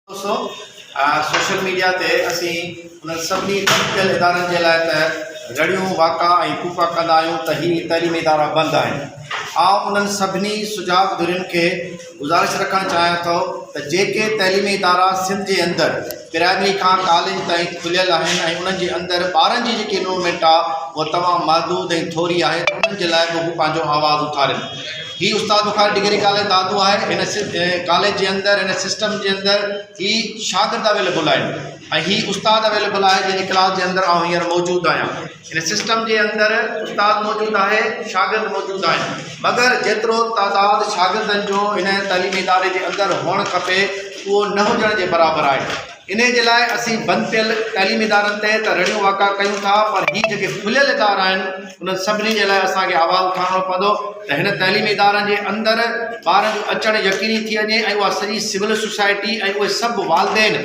سو social media تي اسين انهن سڀني ٽپيل ادارن جي لاء ته رڙيون واڪا ۽ ڦوڪا ڪندا آهيون ته هي تعليمي ادارا بند آهن. آئون انهن سڀني سجاڳ ڌرين کي گذارش رکڻ چاهيان ٿو ته جيڪي تعليمي ادارا سنڌ جي اندر پرائمري کان ڪاليج تائين کليل آهن ۽ انهن جي اندر ٻارن جي جيڪي انرومينٽ آهي اها تمام محدود ۽ ٿوري آهي ته انهن جي لاء به هو پنهنجو آواز اٿارين. هي استاد بخاري ڊگري ڪاليج دادو آهي هن ڪاليج جي اندر هن سسٽم جي اندر هي شاگرد اويليبل آهن ۽ هي استاد اويليبل آهي جنهن جي ڪلاس جي اندر آئون هينئر موجود آهيان هن سسٽم جي اندر استاد موجود آهي شاگرد موجود آهن مگر جيترو تعداد شاگردن جو هن تعليمي اداري جي اندر هئڻ کپي اهو نه هجڻ جي برابر آهي انهيء جي لاء اسين بند ٿيل تعليمي ادارن تي ته رڙيون واڪا ڪيون ٿا پر هي جيڪي کليل ادارا آهن انهن سڀني جي لاء اسان کي آواز اٿارڻو پوندو ته هن تعليمي ادارن جي اندر ٻارن جو اچڻ يقيني ٿي وڃي ۽ اها سڄي سول سوسائٽي ۽ اهي سڀ والدين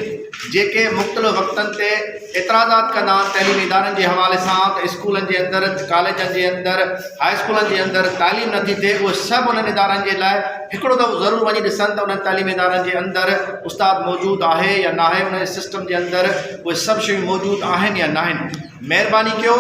جيڪي مختلف وقتن تي اعتراضات ڪندا آهن تعليمي ادارن جي حوالي سان ته اسڪولن جي اندر ڪاليجن جي اندر هاء اسڪولن جي اندر تعليم نٿي ٿئي اهي سڀ انهن ادارن جي لاء هڪڙو دفعو ضرور وڃي ڏسن ته انهن تعليمي ادارن جي اندر استاد موجود آهي يا ناهي انهن جي سسٽم جي اندر اهي سڀ شيون موجود آهن يا ناهن مهرباني ڪيو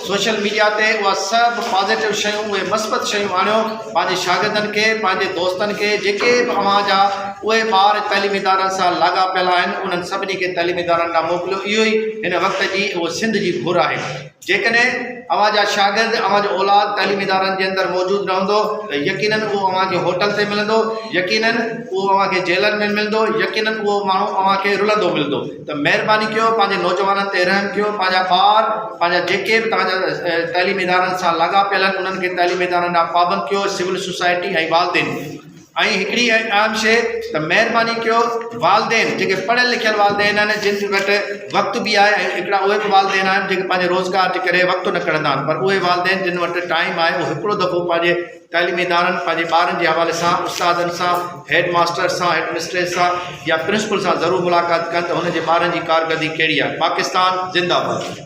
سوشل ميڊيا تي اها سڀ پازيٽو شيون اهي مثبت شيون آڻيو پنهنجي شاگردن کي پنهنجي دوستن کي جيڪي به اوهان جا اهي ٻار تعليمي ادارن سان لاڳاپيل آهن انهن سڀني کي تعليمي ادارن ڏانهن موڪليو اهو ئي هن وقت جي اهو سنڌ جي گهر آهي جيڪڏهن اوهان جا شاگرد، اوهان جو اولاد تعليمي ادارن جي اندر موجود رهندو ته يقيناً اهو اوهان کي هوٽل تي ملندو، يقيناً اهو اوهان کي جيلن ۾ ملندو، يقيناً اهو ماڻهو اوهان کي رلندو ملندو. ته مهرباني ڪيو پنهنجي نوجوانن تي رحم ڪيو، پنهنجا ٻار، پنهنجا جيڪي به توهان جا تعليمي ادارن سان لاڳاپيل آهن انهن کي تعليمي ادارن ڏانهن پابند ڪيو، سول سوسائٽي ۽ والدين. ۽ هڪڙي ۽ عام شيء ته مهرباني ڪيو والدين جيڪي پڙهيل لکيل والدين آهن جن وٽ وقت به آهي ۽ هڪڙا اهي به والدين آهن جيڪي پنهنجي روزگار جي ڪري وقت نه ڪڍندا آهن پر اهي والدين جن وٽ ٽائيم آهي اهي هڪڙو دفعو پنهنجي تعليمي ادارن پنهنجي ٻارن جي حوالي سان استادن سان هيڊ ماستر سان هيڊ مسٽريس سان يا پرنسپل سان ضرور ملاقات ڪن ته هن جي ٻارن جي ڪارڪردگي ڪهڙي آهي پاڪستان زنده باد